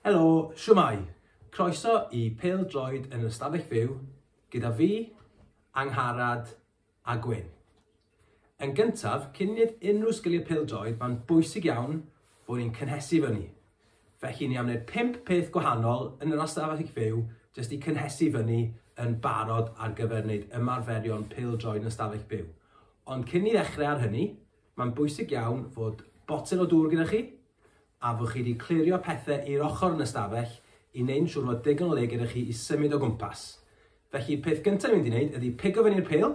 Helo, siwmai! Croeso i Pêl Droed yn yr Ystafell Fyw gyda fi, Angharad a Gwyn. Yn gyntaf, cyn wneud unrhyw sgiliau pêl-droed, mae'n bwysig iawn Bo ni'n cynhesu fyny. Felly ni am wneud pump peth gwahanol yn yr ystafell fyw jyst i cynhesu fyny yn barod ar gyfer wneud ymarferion pêl-droed yn ystafell byw. Ond cyn ni ddechrau ar hynny, mae'n bwysig iawn fod botel o dŵr gyda chi a fod chi wedi clirio pethau i'r ochr yn ystafell i wneud siŵr fod digon o le gyda chi i symud o gwmpas. Felly, peth gyntaf ni'n mynd i wneud ydy pigo fyny'r pêl,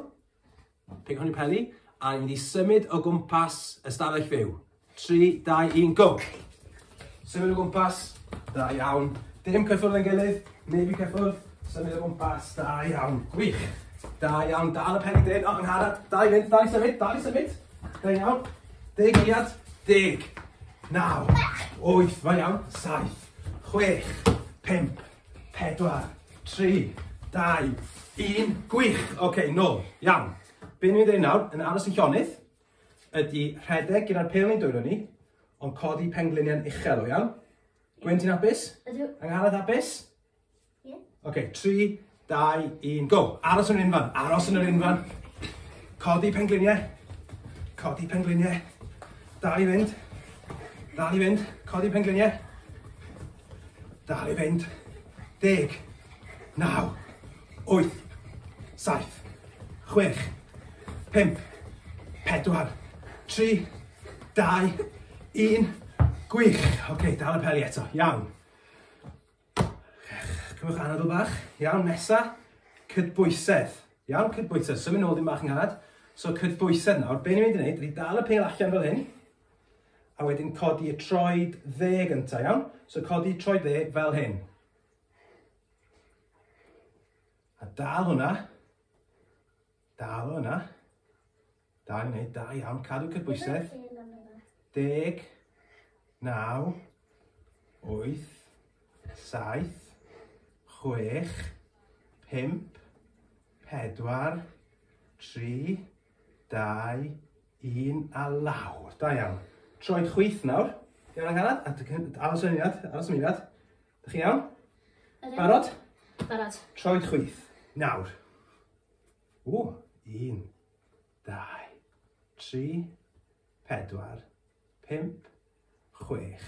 Peidiwch â peli, a ni wedi symud o gwmpas ystafell fyw. 3, 2, 1, go! Symud o gwmpas, da iawn. Dim cyffwrdd yn gilydd, neb i cyffwrdd, symud o gwmpas, da iawn, gwych. Da iawn, dal y pen i dyn, o, yn harad, da i fynd, da i symud, da i symud. Da iawn, deg eiliad, deg, naw, wyth, da iawn, saith, chwech, pimp, 4, 3, 2, 1. Gwych! Oce, okay, nôl. Iawn. Be ni'n dweud nawr, yn aros yn llonydd, ydy rhedeg gyda'r pel ni'n dwylo ni, ond codi pengliniau'n uchel, o iawn? Gwen, ti'n apus? Ydw. Angharad, apus? Ie. Yeah. Oce, okay, 3, 2, 1, go. Aros yn yr unfan, aros yn yr unfan. Codi pengliniau. Codi pengliniau. Dal i fynd. Dal i fynd. Codi pengliniau. Dal i fynd. Deg. Naw. Wyth. Saith. Chwech. Pump. Pedwar. Tri. Dau. Un. Gwych. Ok, dal y peli eto. Iawn. Cymwch anadl bach. Iawn, nesa. Cydbwysedd. Iawn, cydbwysedd. Symud nôl ddim bach yn nghad. So cydbwysedd nawr. Be ni'n mynd i wneud? Dwi dal y pel allan fel hyn. A wedyn codi y troed dde gyntaf, iawn? So codi troed dde fel hyn. A dal hwnna. Dal hwnna. Da ni'n gwneud, da iawn. Cadw cydbwysedd. Deg, naw, wyth, saith, chwech, pimp, pedwar, tri, Dau, un, a lawr. Da iawn. Troed chwyth nawr. Iawn angharad, a aros yn eiliad, aros yn eiliad. Da chi iawn? Barod? Barod. Troed chwyth. Nawr. O, un, dau, tri, pedwar, pimp, chwech,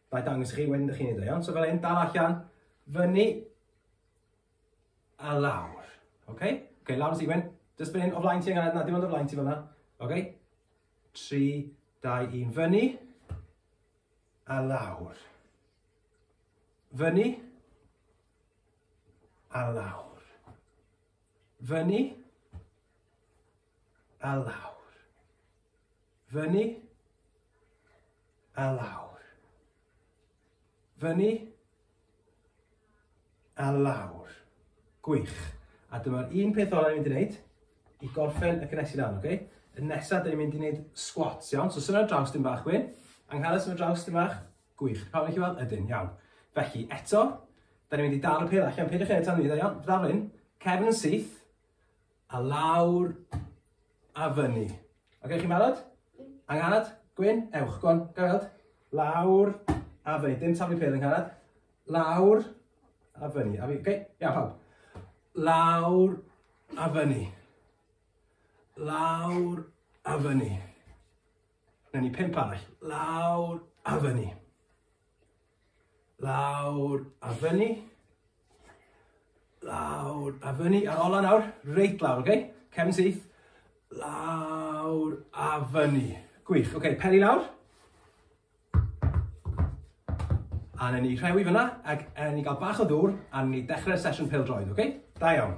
Wna i dangos i chi wedyn ydych chi'n neud o iawn. So fel hyn, dal allan, fyny, a lawr. Oce? Okay? Oce, okay, lawr y sigwen. Just fan hyn, o flaen ti angen, na, dim ond o flaen ti fanna. Oce? Okay? 3, 2, 1, fyny, a lawr. Fyny, a lawr. Fyny, a lawr. Fyny a lawr. Fyny a lawr. Gwych. A dyma'r un peth ola ni'n mynd i wneud i gorffen y cynnes i lan, oce? Okay? Y nesaf, dyn ni'n mynd i wneud squats, iawn? So, sy'n draws dyn bach, Gwyn. Angharad, sy'n draws dyn bach. Gwych. Pawb yn chi weld? Ydyn, iawn. Felly, eto, da ni'n mynd i dal y pil allan. Peidiwch eto ni, dda iawn. Ddarlun, cefn yn syth, A lawr a fyny. Ok, chi'n barod? Angharad? Gwyn? Ewch, gwan, gael. Lawr a fyny. Dim taflu pêl, Angharad. Lawr a fyny. A fi, ok? Ia, pawb. Lawr a fyny. Lawr a fyny. Newn ni pimp arall. Lawr a fyny. Lawr a fyny. Lawr a fyny. A'r ola nawr, reit lawr, oce? Okay? Cefn syth. Lawr a fyny. Gwych, oce, okay, peli lawr. A na ni rhewi fyna, ac a ni gael bach o ddŵr, a ni dechrau'r sesiwn pel droed, oce? Okay? Da iawn.